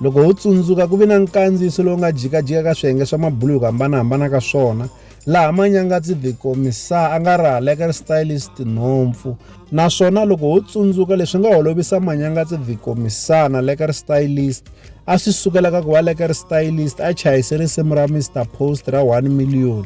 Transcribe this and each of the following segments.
loko ho tsundzuka ku ve na nkandziyiso lowu nga jikajika ka swiyenge swa mabulu hi ku hambanahambana ka swona laha manyangatsi the commissar a nga rihaleka ri stylist nhompfu naswona loko ho tsundzuka leswi nga holovisa manyangatsi the commissar na leka ri stylist a swi sukela ka ku va leka ri stylist a chayise risimu ra mr post ra 1 million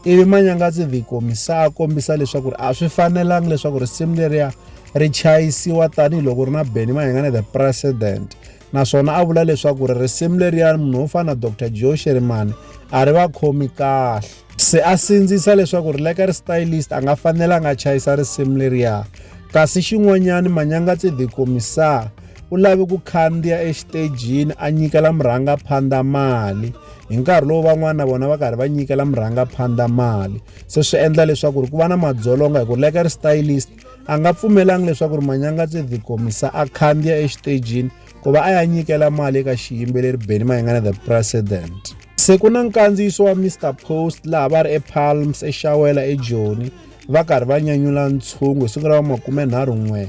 ivi manyangatsi vikomisaa a kombisa leswaku ri a swi fanelanga leswaku risimu leriya ri chayisiwa tanihiloko ri na beni mahengane the president naswona a vula leswaku ri risimu leriya munhu wo fana na dr joe sherimani a ri va khomi kahle se a sindzisa leswaku ri leka ri stylist a nga fanelanga a chayisa risimu leriya kasi xin'wanyana manyangatsi vikomisaa u lave ku khandziya exitejini a nyikela murhangaphandza mali hi nkarhi lowu van'wana na vona va karhi va nyikela murhangaphandla mali se swi endla leswaku ri ku va na madzolonga hi ku leka ri stylist a nga pfumelanga leswaku ri manyanga tse dikomisa a khandziya exitejini ku va a ya nyikela mali eka xiyimbeleri beni mayingana the president se ku na nkandziyiso wa mr post laha va ri epalms exawela ejoni va karhi va nyanyula ntshungu hi siku ra va makumenharhu n'we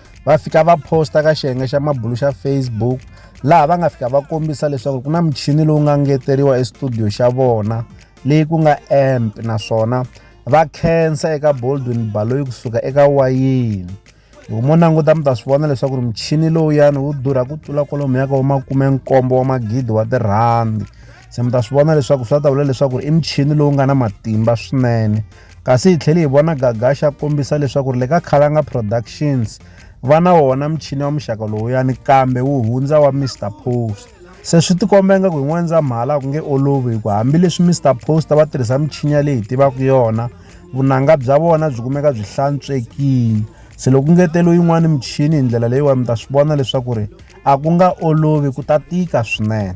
va fika va posta ka xiyenge xa mabulu xa facebook laha va nga fika va kombisa leswaku ku na muchini lowu nga ngeteriwa estudio xa vona leyi ku nga amp naswona va khensa eka boldwin baloyi kusuka eka wayini loko mo languta mi ta swi vona leswaku ri muchini lowuyani wu durha ku tlula kwalomu yaka wa makume nkombo wa magidi wa tirhandi se mi ta swi vona leswaku swi ta vula leswaku i muchini lowu nga na matimba swinene kasi hi tlhele hi vona gagasha kombisa leswaku ri le ka khalanga productions va na wona muchini wa muxaka lowuyani kambe wu hundza wa mr post se swi tikomba ingaku hi n'wendzamhala ku nge olovi hi ku hambileswi mr post va tirhisa muchini ya leyi hi tivaka yona vunanga bya vona byi kumeka byi hlantswekile se loko ngetelo yin'wana muchini hi ndlela leyiwani mi ta swi vona leswaku ri a ku nga olovi ku ta tika swinene